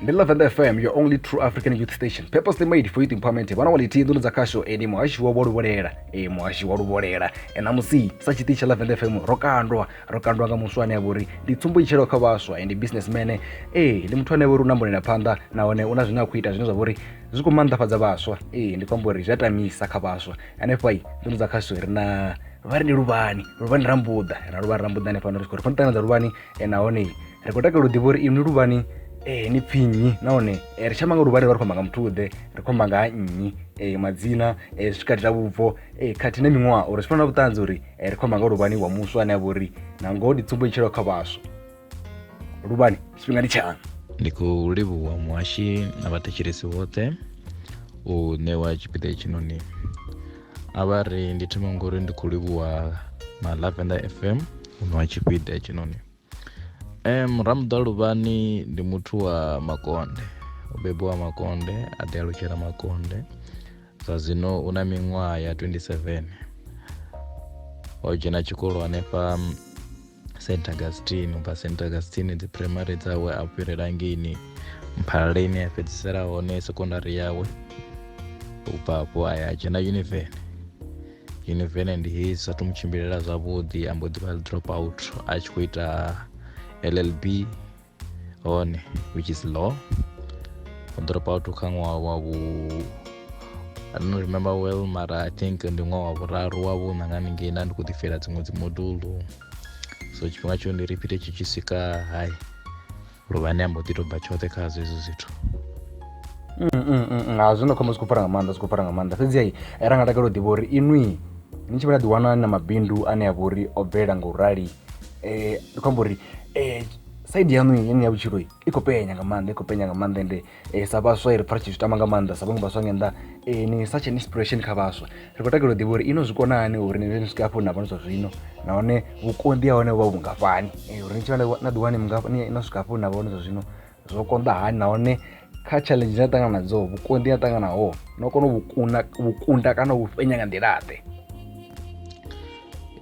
ndi lavender fm your only true african youth station purposely made for youth empowerment vhana wa lithihi nḓuni dza khasho eni muhashi wa luvholela e muhashi wa luvholela e ṋamusi sa tshiṱitshi tsha lavender fm ro kandwa ro kandwa nga muswa ane a vha uri ndi tsumbo itshelo kha vhaswa and businessman ee ndi muthu ane a vha uri u na mbonela phanḓa nahone u na zwine a khou ita zwine zwa vha uri zwi khou maanḓafhadza vhaswa ee ndi khou amba uri zwi a tamisa kha vhaswa hanefha i nḓuni dza khasho ri na vha ri ndi luvhani luvhani rambuḓa ra luvhani rambuḓa hanefha no ri tshi khou ri fanela ṱangana dza luvhani e nahone ri khou takalela u ḓivha uri inwi luvhani um ni pfhi nnyi nahone um ri tshi amba nga luvhani vha ri khou amba nga muthu ḓe ri khou amba nga ha nnyi um madzina um zwi tshi katela vhubvo um khathihi na miṅwaha uri zwi fana na vhuṱanzi uri um ri khou amba nga luvhani wa muswa ane a vha uri na ngoho ndi tsumbo itshelaho kha vhaswa luvhani tshifhinga ndi tshaṋu ndi khou livhuwa muhashi na vhathetshelesi vhoṱhe u ṋewa tshipiḓa hetshinoni a vha ri ndi thoma ngori ndi khou livhuwa na lavender fm uno wa tshipiḓa hetshinoni um ramuḓa luvhani ndi muthu wa makonde o bebiwa makonde a ḓi alutshela makonde zwa zwino u na miṅwaha ya 27 o dzhena tshikolo hanefha st augustine ubva st augustine dzi primary dzawe a fhirela ngeini mphalala ine ya fhedzisela hone secondary yawe ubva hafho a ya dzhena univene univene ndi hei zwi sathu mu tshimbilela zwavhuḓi a mbo ḓi vha drop out a tshi khou ita llb 1 which is law u ḓo ri pa vhathu kha ṅwaha wa vhu I don't remember well mara I think ndi ṅwaha wa vhuraru wa vhuṋa nga ningei nda ndi khou ḓifela dziṅwe dzi modulu so tshifhinga tsho ndi repeat tshi tshi swika hai luvha ne a mbo ḓi to bva tshoṱhe kha zwo hezwo zwithu mm, mm, mm, ha zwi no khombo zwi khou fara nga maanḓa zwi khou fara nga maanḓa fhedzi ai ra nga takala u ḓivha uri inwi ni tshi vha na ḓiwana na mabindu ane a vha uri o bvelela nga u rali eh ndi khou amba uri eh side yaṋu yeneyi ya vhutshilo i khou penya nga maanḓa i khou penya nga maanḓa ende eh, sa vhaswa ri pfa ri tshi zwi tama nga maanḓa sa vhaṅwe vhaswa nga nnḓa eh, ni such an inspiration kha vhaswa ri khou takalela u ḓivha uri ino zwi kona hani uri ni ni swike hafho na vhone zwa zwino nahone vhukonḓi ha hone vha vhungafhani Eh, uri ni tshi vha na- na ḓiwani mungafha- ni- no swika hafho na vhone zwa zwino zwo konḓa hani nahone kha challenge ine a ṱangana nadzo vhukonḓi a ṱanganaho no kona vhukuna vhukunda kana u fhenya nga nḓila ḓe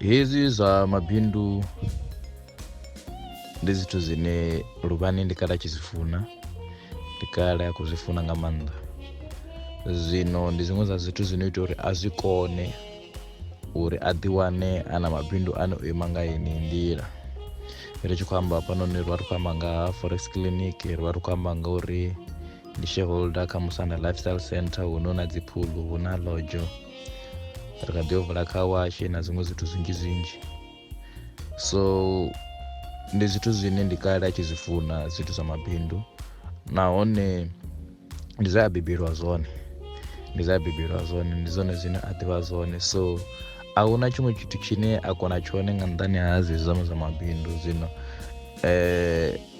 hezwi zwa mabindu ndi zwithu zwine luvhani ndi kale a tshi zwi funa ndi kale a khou zwi funa nga maanḓa zwino ndi zwiṅwe zwa zwithu zwino ita uri a zwi kone uri a ḓiwane a na mabindu ane o ima nga ini nḓila ri tshi khou amba hafhanoni ri vha ri khou amba nga ha forex clinic ri vha ri khou amba nga uri ndi shareholder kha musana lifestyle center hu no na dzi phuḽu hu na lodzho ri kha ḓi yo vula kha washe na zwiṅwe zwithu zwinzhi zwinzhi so ndi zwithu zwine ndi kale a tshi zwi funa zwithu zwa mabindu nahone ndi zwe a bebelwa zwone ndi zwe a bebelwa zwone ndi zwone zwine a ḓivha zwone so a hu na tshiṅwe tshithu tshine a kona tshone nga nṱhani ha zwezwi zwa zwa mabindu zwino um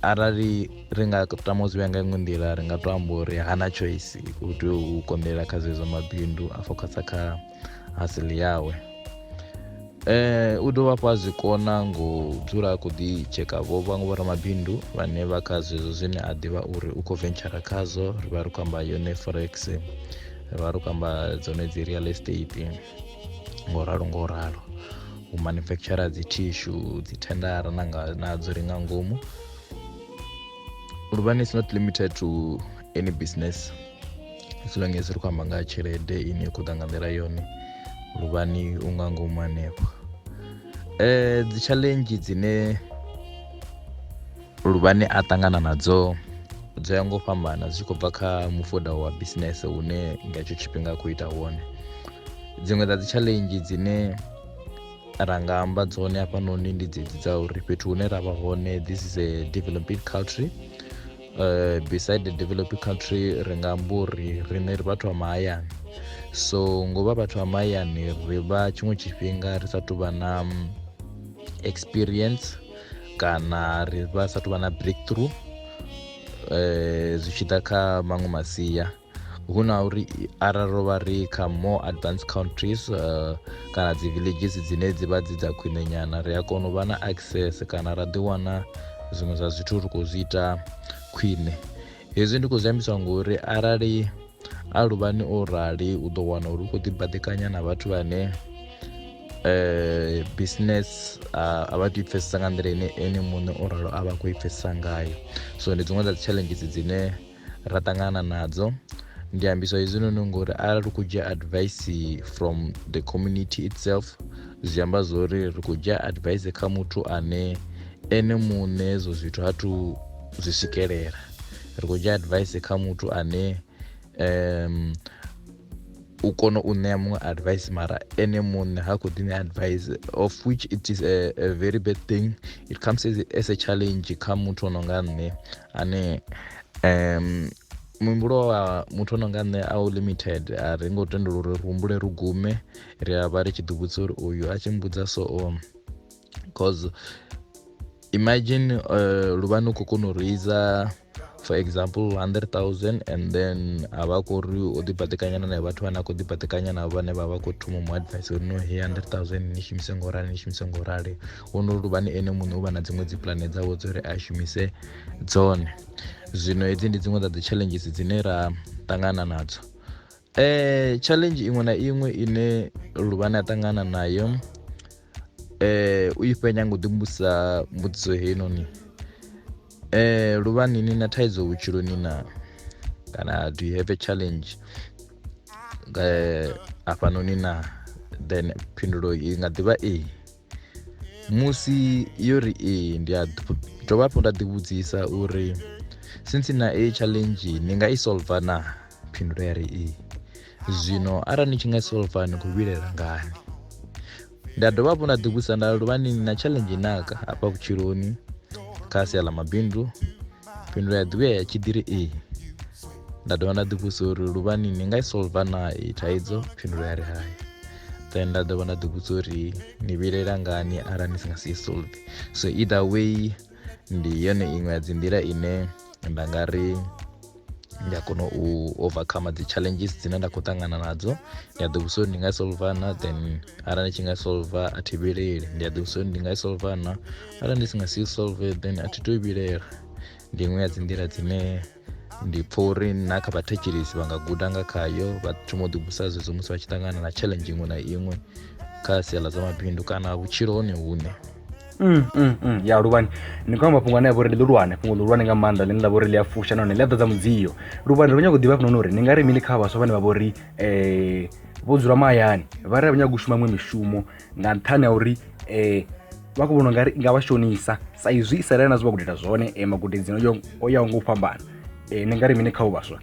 arali ri nga tama u zwi vhea nga iṅwe nḓila ri nga to amba uri hana choice u tea u konḓelela kha zwezwo mabindu a focusa kha asili yawe Eh, u dovha hafhu a zwi kona ngo dzula a khou ḓi tsheka vho vhaṅwe vho ramabindu vhane vha kha zwezwo zwine a ḓivha uri u khou ventshara khazwo ri vha ri khou amba yone forex ri vha ri khou amba dzone dzi real estate ngo ralo ngo ralo u manufacturer dzi tissue dzi tendara na nga nadzo ri nga ngomu luvhani is not limited to any business as long as ri khou amba nga ha tshelede ine ya khou ḓa nga nḓila yone luvhani u nga ngomu hanefho um dzi challenge dzine luvhani a ṱangana nadzo dzo ya ngo fhambana zwi tshi khou bva kha mufuda wa business hune nga hetsho tshifhinga a khou ita wone dziṅwe dza dzi challenge dzine ra nga amba dzone hafhanoni ndi dzedzi dza uri fhethu hune ra vha hone this is a developing country uh, beside the developing country ri nga amba uri riṋe ri vhathu vha mahayani so ngo vha vhathu vha mahayani ri vha tshiṅwe tshifhinga ri sa tuvha na mm, experience kana ri vha sa tuvha na breakthrough um zwi tshi ḓa kha maṅwe masia hu na uri arali ro vha ri kha more advanced countries uh, kana dzi villages dzine dzi vha dzi dza khwine nyana ri a kona u vha na access kana ra ḓi wana zwiṅwe zwa zwithu ri khou zwi ita khwine hezwi ndi khou zwi ambiswa ngori arali a luvhani o rali u ḓo wana uri u khou ḓibadekanya na vhathu vhane eh business a vha tou pfesesa nga nḓila ine ene muṋe o ralo a vha khou i pfesesa ngayo so ndi dziṅwe dza dzi challenges dzine ra ṱangana nadzo ndi ambiswa hezwinoni ngori arali ri khou dzhia advice from the community itself zwi amba zwo uri ri khou dzhia advice kha muthu ane ene muṋe hezwo zwithu ha thu zwi swikelela ri khou dzhia advice kha muthu ane um u kona u ṋea muṅwe advice mara ene muṋe ha khou ḓi ṋea advice of which it is a, a very bad thing it comes as, as a challenge kha muthu o no nga nṋe ane um muhumbulo wa muthu ono nga nṋe a u limited a ri ngo tendela uri ri humbule ri gume ri a vha ri tshi ḓivhudza uri uyu a tshi mbudza so um cause imagine uh, luvha ni khou kona u reisa for example 100000 and then a vha khou ri o ḓibaḓekanyana na vhathu vhane a khou ḓibaḓekanya navho vhane vha vha khou thoma mu advice uri no he 100000 ni shumise ngo rali ni shumise ngo rali wono luvhani ene muṋe u vha na dziṅwe dzi pulane dzawe dzo ri a shumise dzone zwino hedzi ndi dziṅwe dza dzi challenges dzine ra ṱangana nadzo eh challenge iṅwe na iṅwe ine luvhani a ṱangana nayo eh u ifhe nyango ḓi mbusa mbudziso heinoni eh luvhani ni na thaidzo vhutshiloni na kana do you have a challenge eh afhanoni na then phindulo i nga ḓivha ee musi yo ri ee ndi a dovha hafhu nda ḓivhudzisa uri since na a challenge ni nga i solva na phindulo ya ri ee zwino arali ni tshi nga i solva ni khou vhilela ngani nda dovha hafhu nda ḓivhudzisa nda luvha ni na challenge naka hafha vhutshiloni kha sia ḽa mabindu fhindula ya ḓivhuya ya tshidiri a nda dovha nda ḓivhusa uri luvhani ni nga i solva na i thaidzo fhindula ya ri hai then nda dovha nda ḓivhudza uri ni vhilela ngani arali ni si nga si solve so either way ndi yone iṅwe ya dzi nḓila ine nda nga ri ndi a kona u overcome dzi challenges dzine nda khou ṱangana nadzo ndi a ḓivhusa uri ndi nga solva na then arali ndi tshi nga solva a thi vhileli ndi a ḓivhusa uri ndi nga i solva na arali ndi si nga si solve then a thi to i vhilela ndi iṅwe ya dzi nḓila dzine ndi pfha uri na kha vhathetshelesi vha nga guda nga khayo vha thoma u ḓibusa zwezwo musi vha tshi ṱangana na challenge iṅwe na iṅwe kha sia ḽa zwa mabindu kana vhutshilo hone hune Mm, mm, mm. ya luvhani ni khou amba mafhungo ane a vha uri ndi ḽihulwane fhungo ḽihulwane nga maanḓa ḽine ḽa vha uri ḽi a fusha nahone ḽi a ḓadza mudzio luvhani ro nyago u ḓivha hafhanoni uri ni nga ri mini kha vhaswa vhane vha vha uri um vho dzula mahayani vha ri a vha nyagi u shuma miṅwe mishumo nga nṱhani ha uri um vha khou vhona ungari i nga vha shonisa sa izwi isiraele na zwi vha khou ita zwone um magudedzi o yaho nga u fhambana um ni nga ri mini kha u vhaswa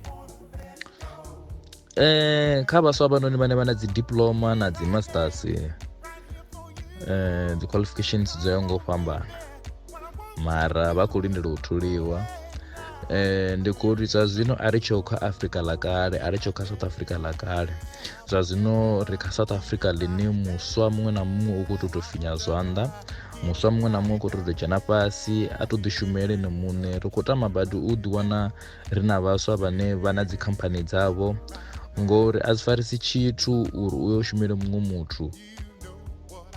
um kha vhaswa vhanoni vhane vha na dzi diploma na dzi masters um dzi qualifications dzo yaho nga u fhambana mara vha khou lindela u thuliwa eh ndi khou ri zwa zwino a ri tsho kha afrika ḽa kale a ri tsho kha south africa ḽa kale zwa zwino ri kha south africa ḽine muswa muṅwe na muṅwe u khou tou tou finya zwanḓa muswa muṅwe na muṅwe u khou tou tou dzhena fhasi a tou ḓishumele ene muṋe ri khou tama badi u ḓiwana ri na vhaswa vhane vha na dzikhamphani dzavho ngori a zwi farisi tshithu uri u yo shumele muṅwe muthu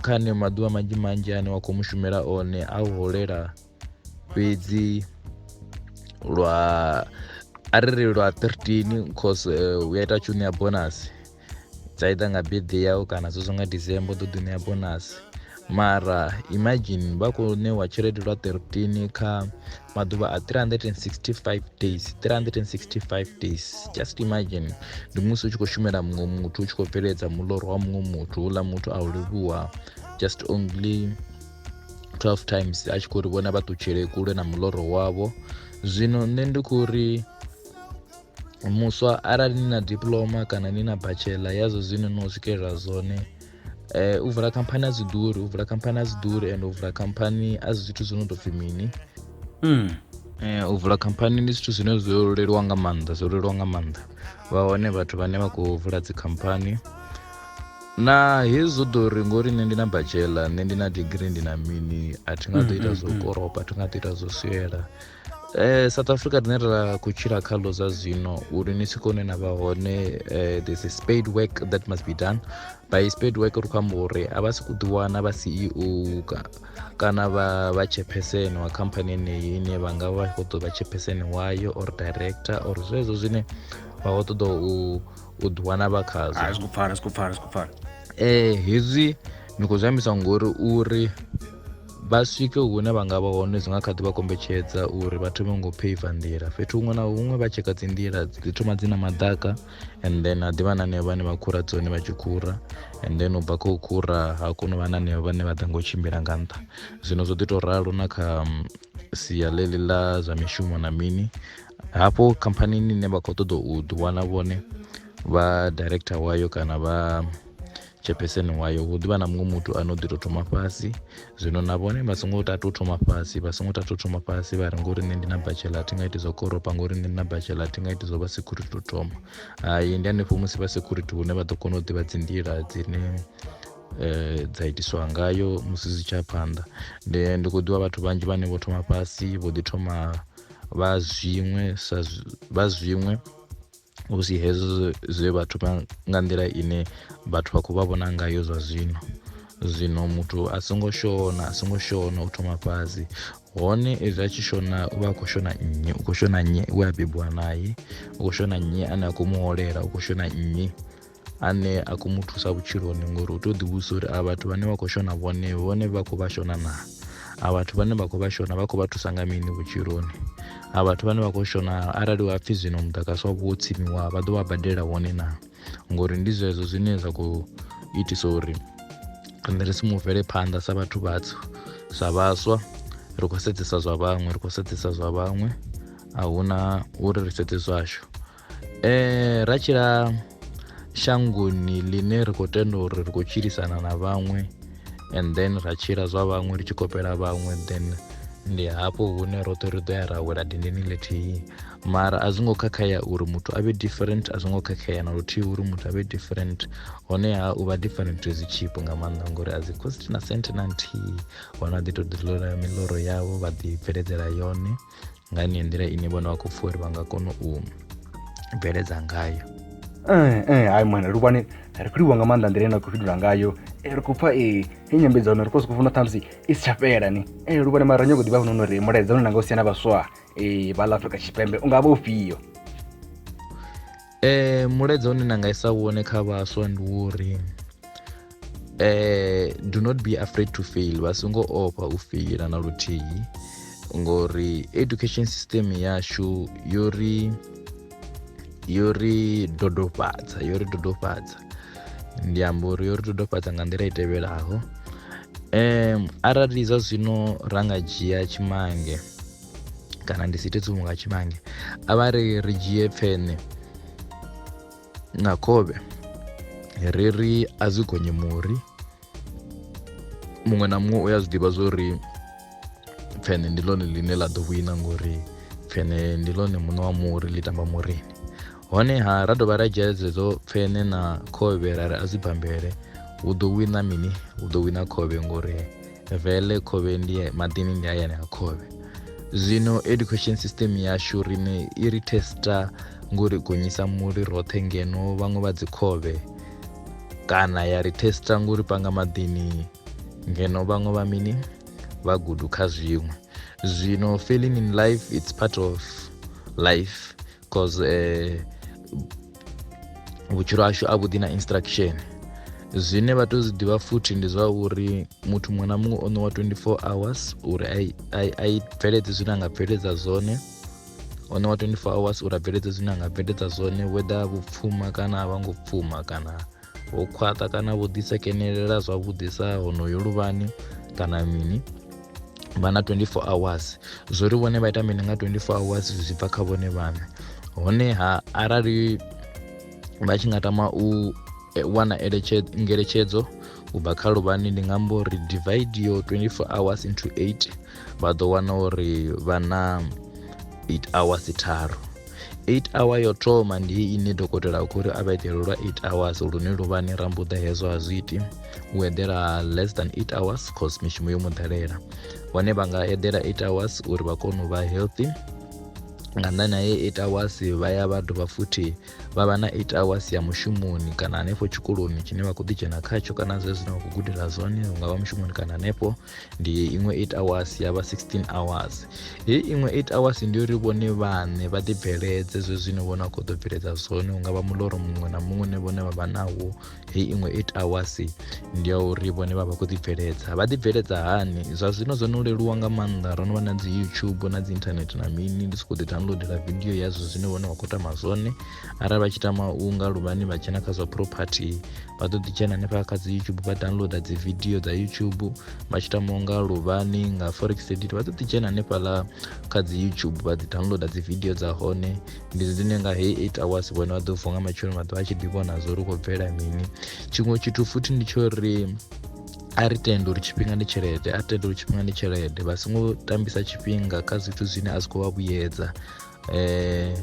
kha ne maḓuvha manzhi manzhi ane wa khou mushumela one a u holela fhedzi lwa a ri ri lwa 13 cause eh, u ya ita tshi u ṋea bonasi dza ita nga birthday yau kana zwezwo nga december ḓo ḓi ṋea bonasi mara imagine vha khou ṋewa tshelede lwa 13 kha maḓuvha a 365 days 365 days just imagine ndi musi u tshi khou shumela muṅwe muthu u tshi khou bveledza muloro wa muṅwe muthu uḽa muthu a u livhuwa just only 12 times a tshi khou ri vhona vha ṱutshele kule na muloro wavho zwino nṋe ndi khou ri muswa arali ni na diploma kana ni na bachelor yazwo zwine no swikelela zwone eh, u vula khamphani a zwi ḓuri u vula khamphani a zwi ḓuri and u vula khamphani a zwi zwithu zwi no tou pfhi mini mm. eh, u vula khamphani ndi zwithu zwine zwo leluwa nga maanḓa zwo leluwa nga maanḓa vha hone vhathu vhane vha khou vula dzikhamphani na hezwo ḓo ri ngori nṋe ndi na bachela nṋe ndi na digiri ndi na mini a thi nga ḓo mm, ita mm, zwo koropa a thi nga ḓo ita zwo swiela Eh, south africa rine ra khou tshila kha lo zwa zwino uri ni swike hune na vha hone eh, there's a spade work that must be done by spade work ri khou amba uri a vha si ku ḓiwana vha ceo ka, kana vha vha chairperson wa khamphani eneyi ine vha nga vha khou ḓo vha chairperson wayo or director or zwezwo zwine vha khou ṱoḓa u u ḓiwana vha khazwo a zwi khou pfala zwi khou pfala zwi khou pfala eh hezwi ni khou zwi ambiswa ngori uri vha swike hune vha nga vha hone zwi nga kha ḓi vha kombetshedza uri vha thome ngo peiva nḓila fhethu huṅwe na huṅwe vha tsheka dzi nḓila dzi thoma dzi na madaka and then ha ḓivha na hanevho vhane vha khura dzone vha tshi khura and then u bva kha u khura ha kona u vha na hanevho vhane vha ḓa ngo tshimbila nga nṱha zwino zwo ḓi tou ralo na kha mm, sia ḽeḽi ḽa zwa mishumo na mini hafho khamphanini ine vha khou ṱoḓa u ḓiwana vhone vha director wayo kana vha tshepeseni wayo hu ḓivha na muṅwe muthu ane u ḓi tou thoma fhasi zwino na vhone vha songo tatu thoma fhasi vha songo tatu thoma fhasi vha ri ngori nṋe ndi na bachela thi nga iti zwa koropa ngori nṋe ndi na bachela thi nga iti zwa vha security to thoma hai ndi hanefho musi vha security hune vha ḓo kona u ḓivha dzi nḓila dzine eh, dza itiswa ngayo musi zwi tsha phanḓa ndi ndi khou ḓivha vhathu vhanzhi vhane vho thoma fhasi vho ḓi thoma vha zwiṅwe sa vha zwiṅwe hu si hezwo zwe vha thoma nga nḓila ine vhathu vha khou vha vhona ngayo zwa zwino zwino muthu a songo shona a songo shona u thoma fhasi hone ezwi a tshi shona u vha a khou shona nnyi u khou shona nnyi we a bebiwa naye u khou shona nnyi ane a khou muholela u khou shona nnyi ane a khou mu thusa vhutshiloni ngori u tea u ḓivhudzisa uri a vhathu vhane vha khou shona vhone vhone vha khou vha shona naa a vhathu vhane vha khou vha shona vha khou vha thusa nga mini vhutshiloni a vhathu vhane vha khou shona arali wa pfhi zwino mudagasi wavho wo tsimiwa vha ḓo vha badela wone naa ngori ndi zwezwo zwine zwa khou itisa uri riṋe ri si mu bvele phanḓa sa vhathu vhatswu sa vhaswa ri khou sedzesa zwa vhaṅwe ri khou sedzesa zwa vhaṅwe a huna uri ri sedze zwashu eh, ra tshila shangoni ḽine ri khou tenda uri ri khou tshilisana na vhaṅwe and then ra tshila zwa vhaṅwe ri tshi kopela vhaṅwe then ndi hafho hune roṱhe ri ḓo ya ra wela dindini ḽithihi mara a zwi ngo khakhea uri muthu a vhe different a zwi ngo khakhea na luthihi uri muthu a vhe different honeha u vha different zwi tshipo nga maanḓa ngori a dzi cost na sent na nthihi hona ḓi to ḓi ḽola miloro yavho vha ḓi bveledzela yone nga ni nḓila ine vhona vha khou pfha uri vha nga kona u bveledza ngayo eh, eh, hai mwana luvhani ri khou livhuwa nga maanḓa nḓila ine na khou fhindula ngayo eh, ri khou pfha e nyambedzano ri khou sokou funa ṱhamusi i si tsha fhela ni e luvhani mara nyoko ḓivha funa uri mulaedza une na nga u siya na vhaswa e vha ḽa afrika tshipembe u nga vha ufhio Eh, mulaedza une na nga isa wone kha vhaswa ndi wo uri eh, do not be afraid to fail vha songo ofha u feila na luthihi ngori education system yashu yo ri yo ri dodofhadza yo ri dodofhadza ndi amba uri yo ri dodofhadza nga nḓila i tevhelaho um arali zwa zwino ra nga dzhia tshimange kana ndi si ite tsumo nga tshimange a vha ri ri dzhie pfene na khovhe ri ri a zwi gonye muri muṅwe na muṅwe u ya zwi ḓivha zwo ri pfene ndi ḽone ḽine ḽa ḓo wina ngori pfene ndi ḽone muṋe wa muri ḽi tamba murini honeha ra dovha ra dzhia dzedzo pfene na khovhe ra ri a zwi bambele hu ḓo wina mini hu ḓo wina khovhe ngori vele khovhe ndi maḓini ndi hayani ha khovhe zwino education system yashu rine i ri testa ngori gonyisa muri roṱhe ngeno vhaṅwe vha dzi khovhe kana ya ri testa ngori panga maḓini ngeno vhaṅwe vha mini vha gudu kha zwiṅwe zwino failing in life it's part of life cause eh, vhutshilo hashu a vhuḓi na instruction zwine vha tea u zwi ḓivha futhi ndi zwa uri muthu muṅwe na muṅwe o ṋewa 24 hours uri a i bveledze zwine a nga bveledza zwone o ṋewa 24 hours uri a bveledze zwine a nga bveledza zwone whether vhupfuma kana a vha ngo pfuma kana ho khwaṱha kana vho ḓisekenelela zwavhuḓi sa honoyo luvhani kana mini vha na 24 hours zwo ri vhone vha ita mini nga 24 hours zwi tshi bva kha vhone vhaṋe honeha arali vha tshi nga tama u e, wana ngeletshedzo u bva kha luvhani ndi nga mbo ri divide yo 24 hours into 8 vha ḓo wana uri vha na 8 hours tharu 8 hour yo thoma ndi ine dokotela a khou ri a vha eḓele lwa 8 hours lune luvhani ra mbuḓa hezwo a zwi iti u eḓela less than 8 hours cause mishumo yo mu ḓalela hone vha nga eḓela 8 hours uri vha kone u vha healthy nga nḓani ha ye 8 hours vha ya vha dovha futhi vha vha na 8 hours ya mushumoni kana hanefho tshikoloni tshine vha khou ḓi dzhena khatsho kana zwezwo zwine vha khou gudela zwone hu nga vha mushumoni kana hanefho ndi iṅwe 8 hours ya vha 16 hours heyi iṅwe 8 hours ndi uri vhone vhaṋe vha ḓibveledze zwe zwine vhone a khou ḓo bveledza zwone hu nga vha muloro muṅwe na muṅwe ne vhone vha vha nawo heyi iṅwe 8 hours ndi ya uri vhone vha vha khou ḓibveledza vha ḓibveledza hani zwa zwino zwo no leluwa nga maanḓa ro no vha na dzi youtube na dzi internet na mini ndi sokou ḓi downloadela vidio yazwo zwine vhone vha khou tama zwone arali vha tshi tama u nga luvhani vha dzhena kha zwa property vha ḓo ḓi dzhena hanefha kha dzi youtube vha downloader dzi video dza youtube vha tshi tamaho nga luvhani nga forex edit vha ḓo ḓi dzhena hanefhaḽa kha dzi youtube vha ḓi downloader dzi video dza hone ndi dzine nga heyi eight hours vhone vha ḓo vuwa nga matshelo vha ḓo vha tshi ḓi vhona zwo ri khou bvela mini tshiṅwe tshithu futhi ndi tsho ri a ri tende uri tshifhinga ndi tshelede a tende uri tshifhinga ndi tshelede vha songo tambisa tshifhinga kha zwithu zwine a zwi khou vha vhuyedza eh,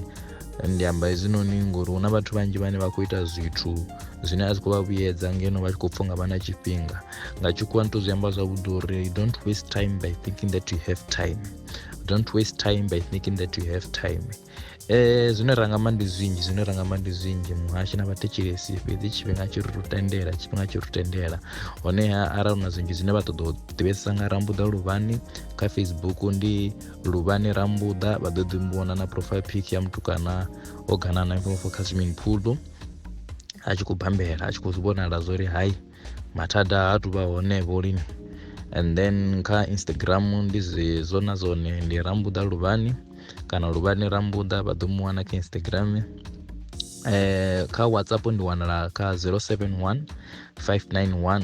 ndi amba hezwinoni ngori hu na vhathu vhanzhi vhane vha khou ita zwithu zwine a zwi khou vha vhuyedza ngeno vha tshi khou pfha nga vha na tshifhinga nga tshikhuwa ni to zwi amba zwavhuḓi uri don't waste time by thinking that you have time don't waste time by thinking that you have time eh zwine ra nga amba ndi zwinzhi zwine ra nga amba ndi zwinzhi muhashi na vhathetshelesi fhedzi tshifhinga tshi ri tendela tshifhinga tshi ri tendela honeha arali na zwinzhi zwine vha ṱoḓa u ḓivhesesa nga rambuḓa luvhani kha facebook ndi luvhani rambuḓa vha ḓo ḓi muvhona na profile pic ya mutukana o gana na mfomfo kha swimming pool a tshi khou bambela a tshi khou zwi vhonala zwo ri hai mathada ha tu vha hone vho lini and then kha instagram ndi zwo na zwone ndi rambuḓa luvhani kana luvhani rambuḓa vha ḓo mu wana kha instagram eh kha whatsapp ndi wanala kha 071 591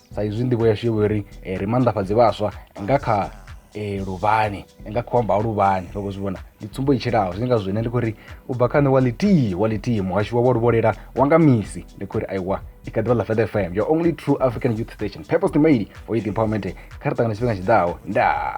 sa izwi nḓivho yashu yo vha uri eh, ri maanḓafhadze vhaswa nga kha eh, luvhani nga kha amba ha luvhani ro khou zwi vhona ndi tsumbo i tshilaho zwi ngazwo ine ndi khou ri u bva kha nṋe wa ḽithihi wa ḽithihi muhasho wa wa luvholela wa nga misi ndi khou ri aiwa i kha ḓivha ḽa fed fm your only true african youth station purpose to made for youth empowerment kha ri ṱangana tshifhinga tshiḓaho ndaa